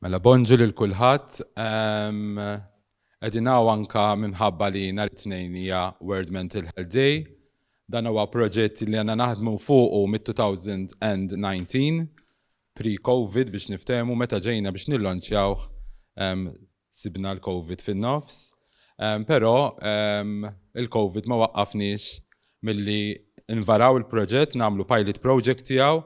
Mela bonġu lil kulħadd. Qegħdin hawn anke minħabba li nhar it-Tnejn hija World Mental Health Day. Dan huwa proġett li għandna naħdmu fuqu mit-2019, pre-COVID biex niftehmu, meta ġejna biex nillonċjawh Sibna l-Covid fin-nofs, però il-Covid ma waqqafniex milli nvaraw il-proġett, nagħmlu pilot project tiegħu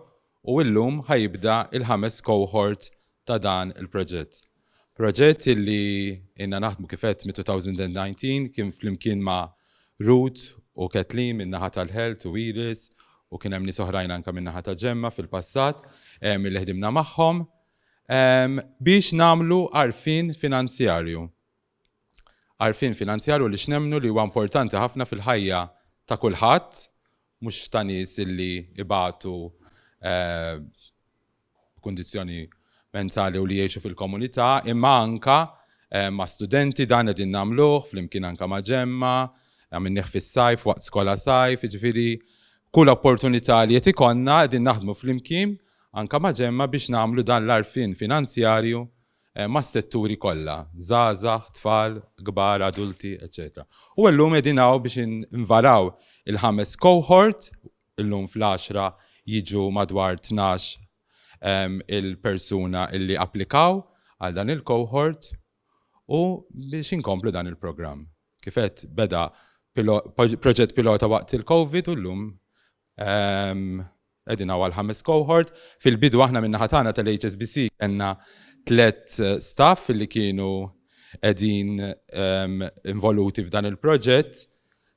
u illum ħa jibda l-ħames cohort ta' dan il-proġett. Proġett illi ilna naħdmu kif għedt mit-2019 kien flimkien ma' Ruth u Kathleen min-naħa tal-Health u Iris u kien hemm nies oħrajn anke min-naħa ta' Gemma fil-passat illi ħdimna magħhom. biex nagħmlu għarfien finanzjarju. Għarfien finanzjarju li x'nemmnu li huwa importanti ħafna fil-ħajja ta' kulħadd, mhux ta' nies illi ibatu b'kundizzjoni mentali u li jgħixu fil-komunità, imma anke ma' studenti dan qegħdin nagħmluh flimkien anke ma' Ġemma, għamilnieh fis-sajf waqt skola sajf, jiġifieri kull opportunità li qed ikollna qegħdin naħdmu flimkien anke ma' ġemma biex nagħmlu dan l-għarfien finanzjarju mas-setturi kollha, żgħażagħ, tfal, kbar, adulti, eċċetera. U illum qegħdin hawn biex invaraw il-ħames cohort, illum fl-għaxra jiġu madwar tnax il-persuna li applikaw għal dan il-cohort u biex inkomplu dan il-programm. Kif għedt, beda proġett pilota waqt il-COVID u llum Qegħdin hawn għall-ħames cohort. Fil-bidu aħna min-naħa tagħna tal-HSBC kellna tliet staff li kienu qegħdin involuti f'dan il-proġett.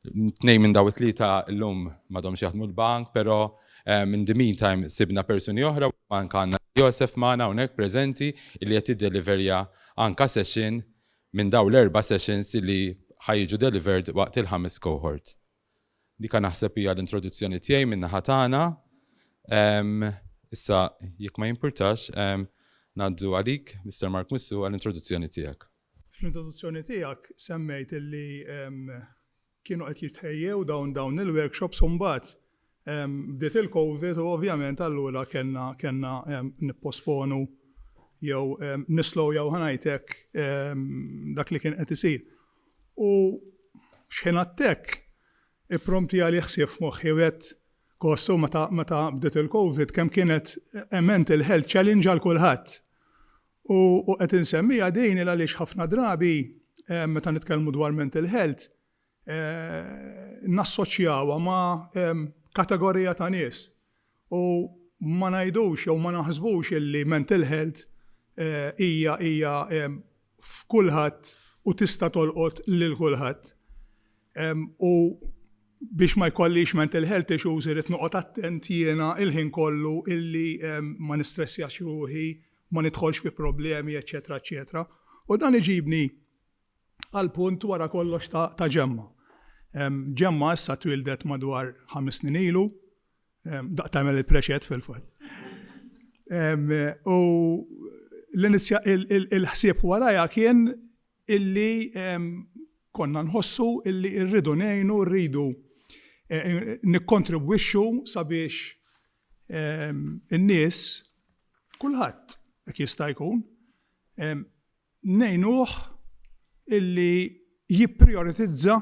Tnejn minn dawn it-tlieta llum m'għadhomx jaħdmu l-bank, però in the meantime sibna persuni oħra u anke għandna lil Joseph magħna hawnhekk preżenti li qed jiddeliverja anke session minn dawn l-erba' sessions li ħa jiġu delivered waqt il-ħames cohort. Dika naħseb hija l-introduzzjoni tiegħi min-naħa tagħna. Issa jekk ma jimpurtax, ngħaddu għalik, Mister Mark Mussu, għall-introduzzjoni tiegħek. Fl-introduzzjoni tiegħek semmejt li kienu qed jitħejjew dawn il-workshops u mbagħad Bdiet il-Covid u ovvjament allura kellna kellna nipposponu jew nislowjaw ħa ngħid hekk dak li kien qed isir. U x'ħinat hekk ippromtjali ħsieb f'moħħi u għedt, Kostju meta meta bdiet il-Covid kemm kienet a mental health challenge għal kulħadd. U u qed insemmiha din il għaliex ħafna drabi meta nitkellmu dwar mental health nassoċjawha ma' kategorija ta' nies u ma ngħidux jew ma naħsbux illi mental health hija hija f'kulħadd u tista' tolqot lil kulħadd. U biex ma jkollix mental health issues irrid noqgħod attent jiena l-ħin kollu illi ma nistressjax ruħi, ma nidħolx fi problemi, eċċetera eċċetera. U dan iġibni għal punt wara kollox ta' Ġemma. Ġemma issa twieldet madwar ħames snin ilu, daqt tagħmel il-preċed fil-fatt. U l-ħsieb warajha kien illi konna nħossu illi rridu ngħinu, rridu nikkontribwixxu sabiex in-nies, kulħadd jekk jista' jkun, ngħinuh illi jipprijoritizza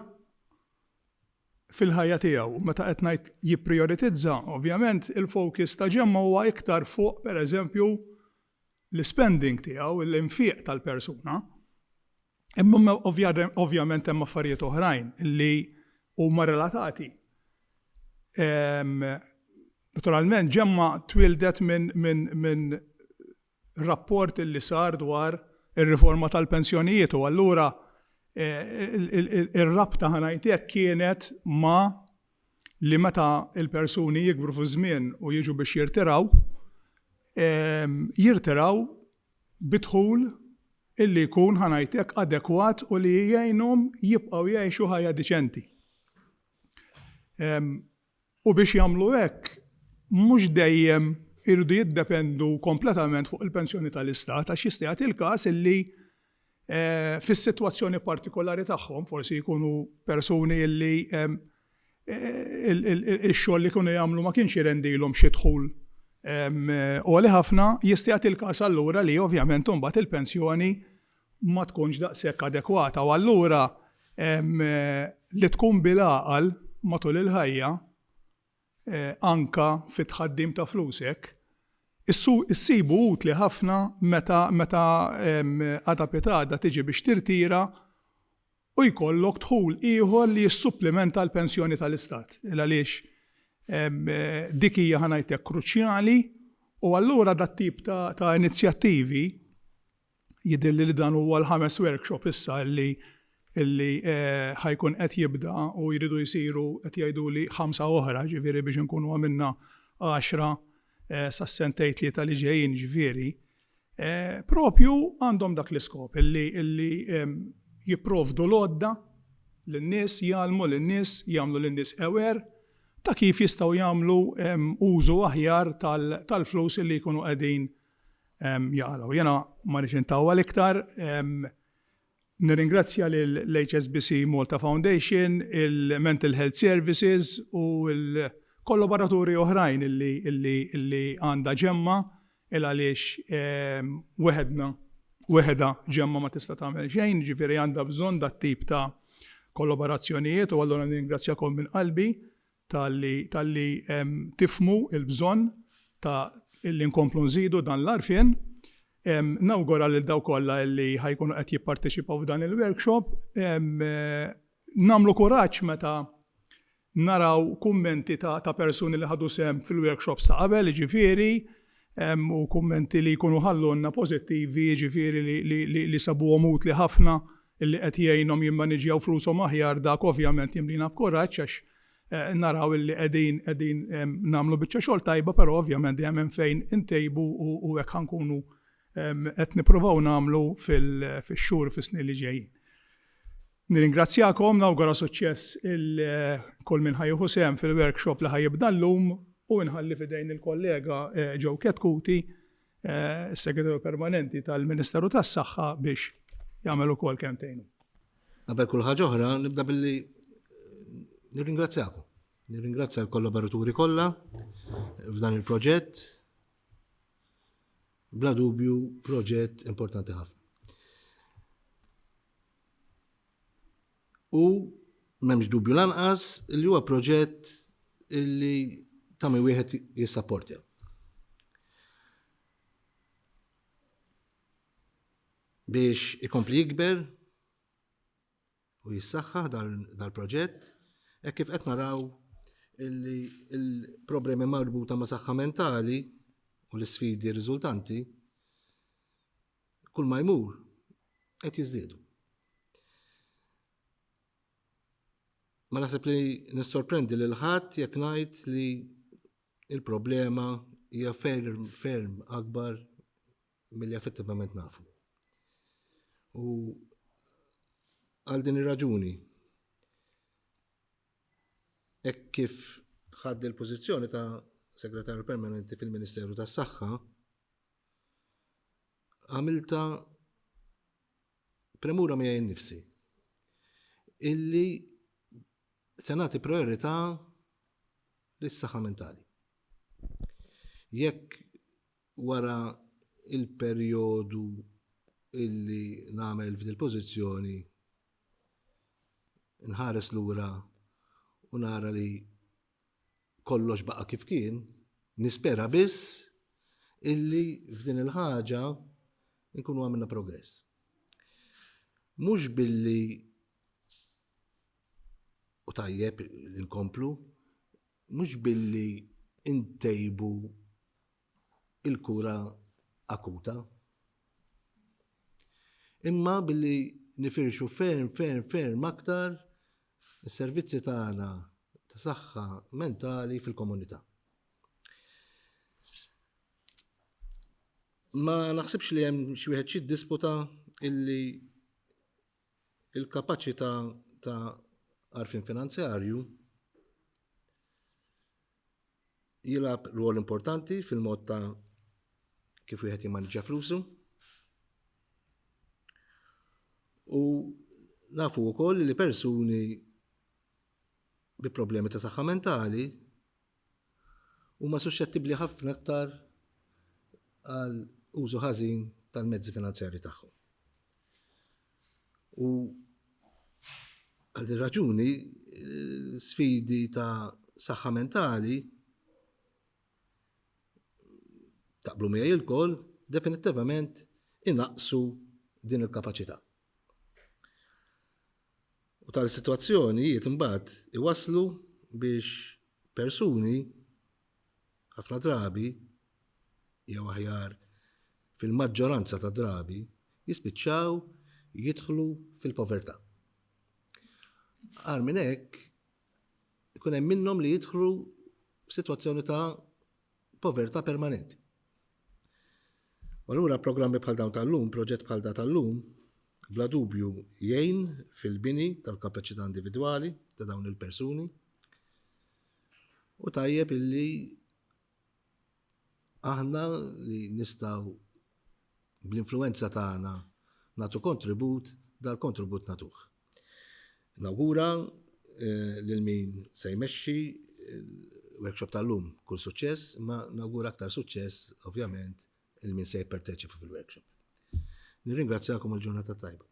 fil-ħajja tiegħu. U meta qed ngħid jipprijoritizza, ovvjament il-focus ta' Ġemma huwa iktar fuq, pereżempju, l-ispending tiegħu, l-infiq tal-persuna. Imma ovvjament hemm affarijiet oħrajn li huma relatati. Naturalment Ġemma twieldet minn rapport li sar dwar ir-riforma tal-pensjonijiet u allura ir-rabta ħa ngħid hekk kienet ma' li meta l-persuni jikbru fiż-żmien u jiġu biex jirtiraw, jirtiraw bi dħul illi jkun ħa ngħid hekk adekwat u li jgħinhom jibqgħu jgħixu ħajja diċenti. u biex jagħmlu hekk mhux dejjem iridu jiddependu kompletament fuq il-pensjoni tal-Istat għax jista' jagħti l-każ li fis-sitwazzjoni partikolari tagħhom, forsi jkunu persuni li x-xogħol li kienu jagħmlu ma kienx jirendilhom xi dħul għoli ħafna, jista' jagħti l-każ allura li ovvjament imbagħad il-pensjoni ma tkunx daqshekk adekwata u allura li tkun bil-għaqal matul il-ħajja anke fit-tħaddim ta' flusek, issibu utli ħafna meta għada pitgħada tiġi biex tirtira u jkollok dħul ieħor li jissupplimenta l-pensjoni tal-Istat. Għaliex dik hija, ħa ngħidlek, kruċjali u allura dat-tip ta' inizjattivi, Jidhirli li dan huwa l-ħames workshop issa illi illi ħa jkun qed jibda u jridu jsiru qed jgħiduli ħamsa oħra, ġifieri biex inkunu għamilna għaxra sas-sentejn tlieta li ġejjin, ġifieri propju għandhom dak l-iskop illi illi jipprovdu l-għodda lin-nies, jgħallmu lin-nies, jagħmlu lin-nies aware ta' kif jistgħu jagħmlu użu aħjar tal-flus illi jkunu qegħdin jaqalgħu. Jiena ma rridx intawwal iktar. Nirringrazzja lill-HSBC Malta Foundation, il-Mental Health Services u l-kollaboraturi oħrajn li għandha Ġemma il għaliex weħedna, weħedha Ġemma ma tista' tagħmel xejn, jiġifieri għandha bżonn dat-tip ta' kollaborazzjonijiet u allura nirringrazzjakom minn qalbi talli tifhmu l-bżonn ta' li nkomplu nżidu dan l-għarfien. Nawgura lil dawk kollha li ħa jkunu qed jipparteċipaw f'dan il-workshop. Nagħmlu kuraġġ meta naraw kummenti ta' persuni li ħadu sehem fil-workshops ta' qabel, jiġifieri u kummenti li jkunu ħallulna pożittivi, jiġifieri li sabuhom utli ħafna, li qed jgħinhom jimmaniġġjaw flushom aħjar, dak ovvjament jimlina b'kuraġġ għax naraw li qegħdin qegħdin nagħmlu biċċa xogħol tajba, però ovvjament dejjem hemm fejn intejbu u hekk ħa nkunu qed nippruvaw nagħmlu fix-xhur u fis-snin li ġejjin. Nirringrazzjakom, nawgura suċċess 'il kull min ħa jieħu sehem fil-workshop li ħa jibda llum u nħalli f'idejn il-kollega Joe Chetcuti, is-Segretarju Permanenti tal-Ministeru tas-Saħħa biex jagħmel ukoll kelmtejn hu. Qabel kull ħaġa oħra nibda billi nirringrazzjakom. Nirringrazzja l-kollaboraturi kollha f'dan il-proġett. Bla dubju proġett importanti ħafna. U m'hemmx dubju lanqas li huwa proġett illi ta' min wieħed jissapportja. Biex ikompli jikber, u jissaħħaħ dal-proġett hekk kif qed naraw li l-problemi marbuta ma' saħħa mentali u l-isfidi riżultanti kull ma jmur qed jiżdiedu. Ma naħseb li nissorprendi lil ħadd jekk ngħid li il-problema hija ferm ferm akbar Milli effettivament nafu. U għal din ir-raġuni hekk kif ħadd il-pożizzjoni ta' Segretarju Permanenti fil-Ministeru tas-Saħħa, għamilta premura miegħi nnifsi illi se nagħti priorità lis-saħħa mentali. Jekk Wara l-perjodu li nagħmel f'din il-pożizzjoni, inħares lura u nara li kollox baqa' kif kien, nispera biss illi f'din il-ħaġa nkunu għamilna progress. Mhux billi u tajjeb li nkomplu, mhux billi ntejbu il-kura akuta. Imma billi nifirxu ferm, ferm, ferm aktar is-servizzi tagħna ta' saħħa mentali fil-komunità. Ma naħsibx li hemm xi wieħed xi disputa illi il-kapaċità ta' arfin finanzjarju jilgħab rwol importanti fil-mod ta' kif wieħed jimmaniġġa flusu. U nafu wkoll li persuni bi problemi ta' saħħa mentali huma suxxettibbli ħafna aktar għal użu ħażin tal-mezzi finanzjari tagħhom. U għal din raġuni sfidi ta' saħħa mentali taqblu miegħi lkoll definittivament inaqsu din il-kapaċità. U tal-sitwazzjoni jiet imbagħad iwaslu biex persuni ħafna drabi jew aħjar, fil-maġġoranza ta' drabi, jispiċċaw jidħlu fil-povertà. Agħar minn hekk, ikun hemm minnhom li jidħlu f'sitwazzjoni ta' povertà permanenti. Allura programmi bħal dawn tal-lum, proġett bħal da tal-lum, bla dubju jgħin fil-bini tal-kapaċità individwali ta' dawn il-persuni u tajjeb illi Aħna li nistgħu bl-influenza tagħna nagħtu kontribut, dal-kontribut nagħtuh. Nawgura eh, lil min se jmexxi il-workshop tal-lum kull suċċess, ma nawgura aktar suċċess ovvjament il min se jipparteċipa fil-workshop. Nirringrazzjakom il-ġurnata tajba.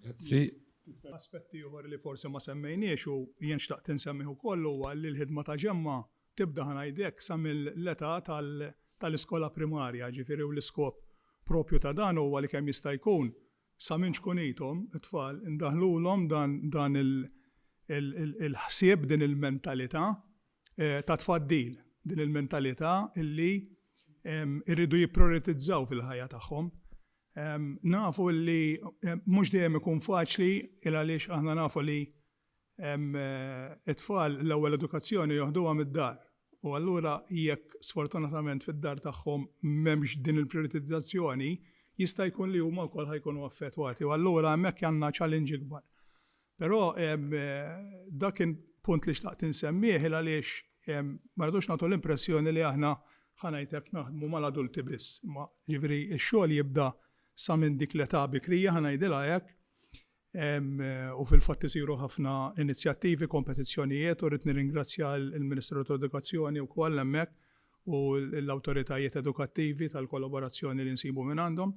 Grazzi. Aspetti uħor li forse ma semmejniex u jien xtaqt insemmiħu kollu għalli l-ħidma ta' ġemma Tibda ħa ngħidlek sa mill-età tal-iskola primarja, jiġifieri u l-iskop proprju ta' dan huwa li kemm jista' jkun sa minn ċkunithom it-tfal indaħħlulhom dan il-ħsieb, din il-mentalità ta' tfaddil, din il-mentalità li jridu jipprioritizzaw fil-ħajja tagħhom. Nafu li mhux dejjem ikun faċli il-għaliex aħna nafu li It-tfal l-ewwel edukazzjoni joħduha mid-dar u allura jekk sfortunatament fid-dar tagħhom m'hemmx din il-prijoritizzazzjoni, jista' jkun li huma wkoll ħa jkunu affettwati u allura hemmhekk għandna challenge ikbar. Però dak kien punt li xtaqt insemmih il għaliex ma rridux nagħtu l-impressjoni li aħna ħa ngħid hekk naħdmu mal-adulti biss, imma jiġifieri x-xogħol jibda sa minn dik l-età bikrija ħa ngħidilha hekk, u fil-fatt isiru ħafna inizjattivi, kompetizzjonijiet u rrid nirringrazzja l-Ministeru tal-Edukazzjoni wkoll hemmhekk u l-awtoritajiet edukattivi tal-kollaborazzjoni li nsibu minn għandhom.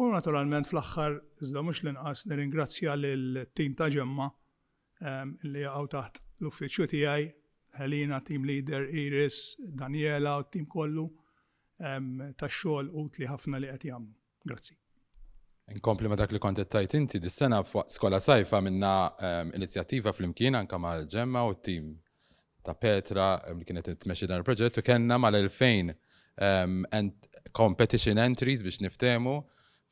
U naturalment fl-aħħar, iżda mhux l-inqas, nirringrazzja lill-tim ta' Ġemma li jaqgħu taħt l-uffiċċju tiegħi, Helena, team leader, Iris, Daniela u t-tim kollu tax-xogħol utli ħafna li qed jagħmlu. Grazzi. Inkompli ma dak li kont tajt inti dis-sena fuq skola sajfa minna ehm, inizjattiva fl-imkien anka ma' ġemma u t-tim ta' Petra ehm, li kienet tmexxi dan il-proġett u kellna mal-2000 ehm, competition entries biex niftemu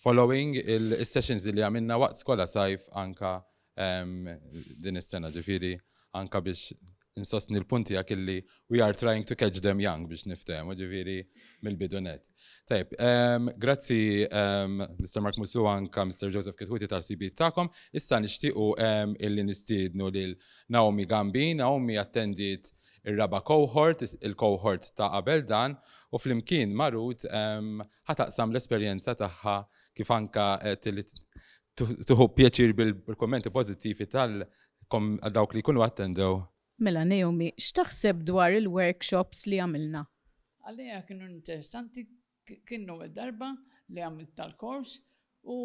following il-sessions li għamilna waqt skola sajf anka din is-sena ġifieri anka biex insostni l-punti għak illi we are trying to catch them young biex niftehmu ġifieri mill-bidunet. Tajb, ehm, grazzi ehm, Mr. Mark Musu anka Mr. Joseph Kitwiti tal-CB ta'kom. Issa nixtiequ ehm, illi nistiednu lil Naomi Gambi. Naomi attendit ir-raba cohort, il-cohort ta' qabel dan, u flimkien marut ħataqsam l-esperjenza tagħha kif anka Tuħu pjaċir bil-kommenti pozittivi tal dawk li jkunu attendew. Mela Naomi, x'taħseb dwar il-workshops li għamilna? Għalija kienu interessanti, kienu darba li għamilt tal-kors u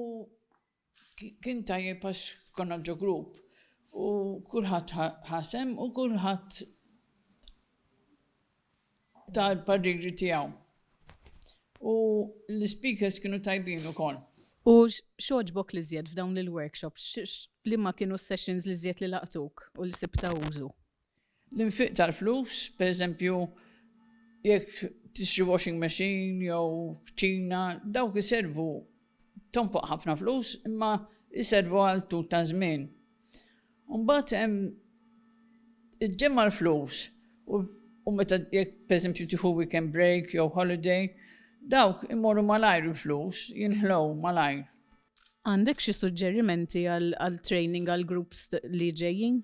kien tajjeb għax konna ġo grupp u kulħadd ħasem u kulħadd ta l-pariri tiegħu. U l-ispeakers kienu tajbin ukoll. U x'għoġbok l-iżjed f'dawn l-workshops? Liema kienu s-sessions l-iżjed li laqtuk u li sibt ta' użu? L-infiq tal-flus, per eżempju, jekk tixtri washing machine jew kċina, dawk iservu tonfoq ħafna flus imma jservu għal tul ta' żmien. Mbagħad hemm iġġemma l-flus u meta jekk pereżempju tieħu weekend break jew holiday, dawk imorru malajr il-flus, jinħlow malajr. Għandek xi suġġerimenti għal training għal groups li ġejjin?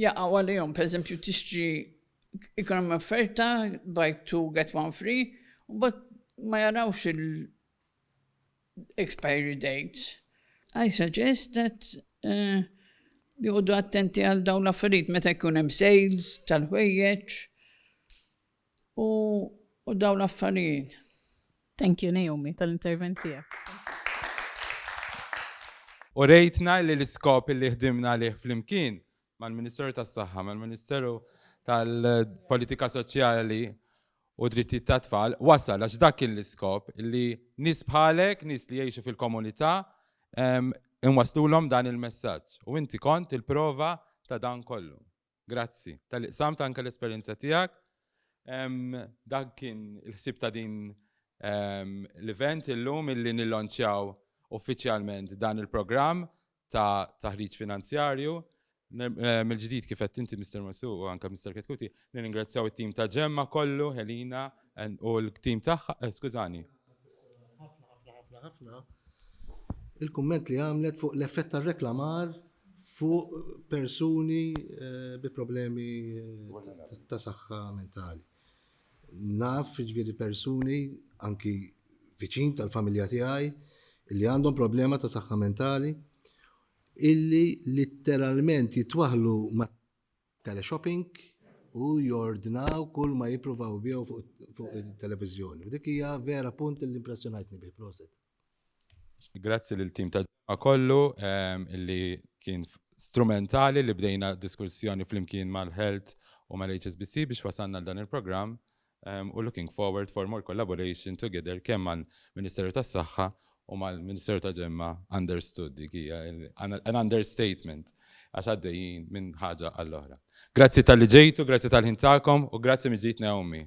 jaqgħu għalihom, pereżempju tixtri ikun hemm offerta buy two get one free, u mbagħad ma jarawx il-expiry dates. I suggest that uh, joqogħdu attenti għal dawn l-affarijiet meta jkun hemm sales tal-ħwejjeġ U u dawn l-affarijiet. Thank you Naomi tal-intervent tiegħek. Urejtna li l-iskop li ħdimna għalih flimkien mal-Ministeru tas-Saħħa, mal-Ministeru tal-Politika Soċjali u Drittijiet tat-Tfal wasal għax dak kien l-iskop li nies bħalek, nies li jgħixu fil-komunità inwaslulhom dan il-messaġġ. U inti kont il-prova ta' dan kollu. Grazzi tal-li qsamt anke l-esperjenza tiegħek. Dak kien il-ħsieb ta' din l-event illum illi nillonċjaw uffiċjalment dan il-programm ta' taħriġ finanzjarju. Mill-ġdid kif għedt inti Mister Mossu u anke Mister Chetcuti, nirringrazzjaw it-tim ta' Gemma kollu, Helena u l-tim tagħha, skużani. Ħafna, ħafna, ħafna, ħafna. Il-kumment li għamlet fuq l-effett tar-reklamar fuq persuni bi problemi ta' saħħa mentali. Naf ġviri persuni anki viċin tal-familja tiegħi li għandhom problema ta' saħħa mentali illi litteralment jitwaħlu ma' teleshopping u jordnaw kull ma jippruvaw jbiegħu fuq it-televiżjoni. Dik hija vera punt li impressjonajtni bih proset. Grazzi lill-tim ta' ġimgħa kollu li kien strumentali li bdejna diskussjoni flimkien mal-Health u mal-HSBC biex wasalna għal dan il-programm u looking forward for more collaboration together kemm mal-Ministeru tas-Saħħa u mal-Ministeru ta' Ġemma understood dik hija an understatement għax għaddejjin minn ħaġa għall-oħra. Grazzi talli ġejtu, grazzi tal-ħin tagħkom u grazzi mill-ġdid Naomi.